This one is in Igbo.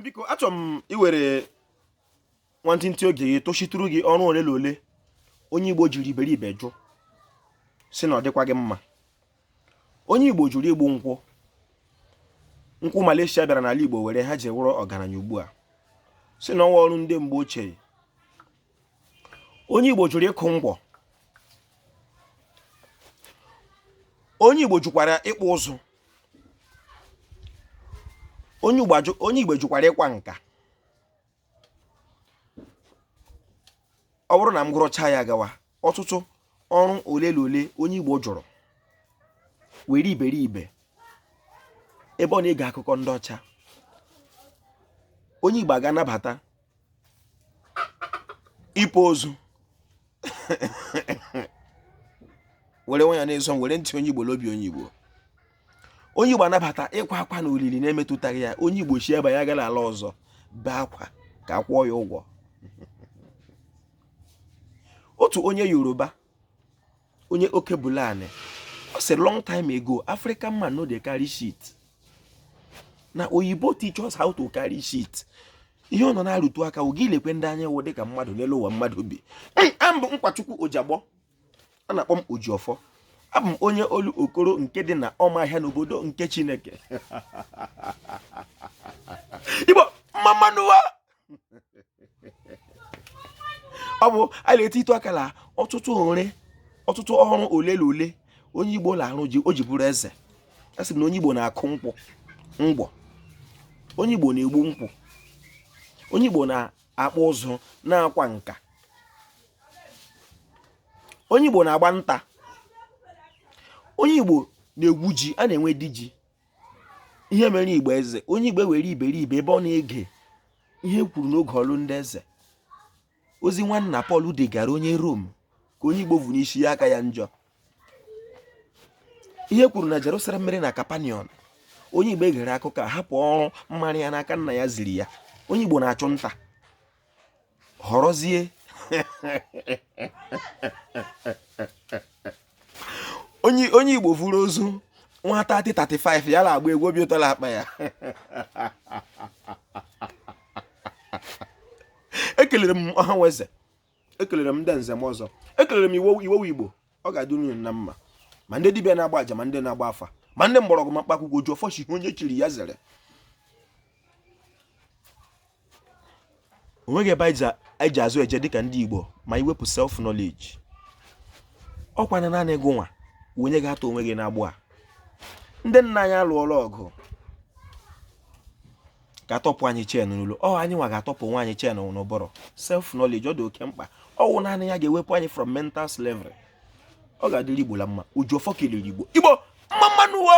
biko achọrọ m iwere nwantịntị oge gị tochitụrụ gị ọrụ ole na ole onye Igbo jiri iberibe jụ sị na ọ dịkwaghị mma onye Igbo jụrụ igbu nkwụ nkwụ Malaysia bịara n'ala Igbo were ha ji wụrụ ọgaranya ugbu a sị na ọ wụ ọrụ ndị mgbe ochie onye Igbo jụrụ ịkụ ngwọ onye Igbo jụkwara ịkpụ ụzụ onye Igbo jụkwara ịkwa nka ọ bụrụ na m gụrụcha ya gawa ọtụtụ ọrụ ole na ole onye Igbo jụrụ were iberibe ebe ọ na-ege akụkọ ndị ọcha onye Igbo agaa nabata ịpa ozu were nwa ya na-eso m were ntị onye igbo l'obi onye igbo onye igbo anabata ịkwa akwa na olili na-emetụtaghị ya onye igbo si ebe ya gara ala ọzọ bee akwa ka a kwụọ ya ụgwọ otu onye yoruba onye okebulani ọ sị long time ago african man no dey carry shit na oyibo teach us how to carry shit ihe ọ nọ na-arụtụ aka wụ gị lekwe ndị anyị wụ dịka mmadụ n'elu ụwa mmadụ bi aha m bụ nkwachukwu ojagbọ a na-akpọ m ojiọfọ abụ m onye olokoro nke dị na ụmụahịa n'obodo nke chineke igbo mma mma nụ wa ọ bụ a na-eti ịtụ aka na ọtụtụ ọtụtụ ọrụ ole na ole onye igbo na-arụ o ji bụrụ eze a sị na onye igbo na-akụ ngwọ onye igbo na-egbu nkwụ onye igbo na-akpụ ụzụ na-akwa nka onye igbo na-agba nta onye igbo na-egwu ji a na-enwe di ji ihe mere igbo eze onye igbo were iberibe ebe ọ na-ege ihe kwuru n'oge ọrụ ndị eze ozi nwanna Pọl degara onye Rom ka onye igbo vu n'isi ya aka ya njọ ihe kwuru na Jerusalem mere na Capernaum onye igbo egere akụkọ hapụ ọrụ mara ya n'aka nna ya ziri ya onye igbo na-achụ nta họrọzie onye igbo vuru ozu nwata 35 ya na-agba egwu obi ụtọ na-akpa ya ekelere m ọha na eze ekelere m ndị nze na ọzọ ekelere m iwowu igbo ọ ga-adị unu na mma ma ndị dibịa na-agba aja ma ndị na-agba afa ma ndị mgbọrọgwụ ma mkpa akwụkwọ ojiọfọ sị onye chiri ya zere onweghị ebe anyị ji azụ eje dịka ndị Igbo ma i wepụ self knowledge ọkwa na naanị gụnwa onye ga-atọ onwe gị n'agbụ a ndị nna anyị alụọla ọgụ ga-atọpụ anyị chain n'olu ọ anyị nwa ga-atọpụ onwe anyị chain n'ụbụrụ self knowledge ọ dị oke mkpa ọ wụ naanị ya ga-ewepụ anyị from mental slavery ọ ga-adịrị Igbo la mma oji ọfọ kelere Igbo Igbo mma mma nụ uwe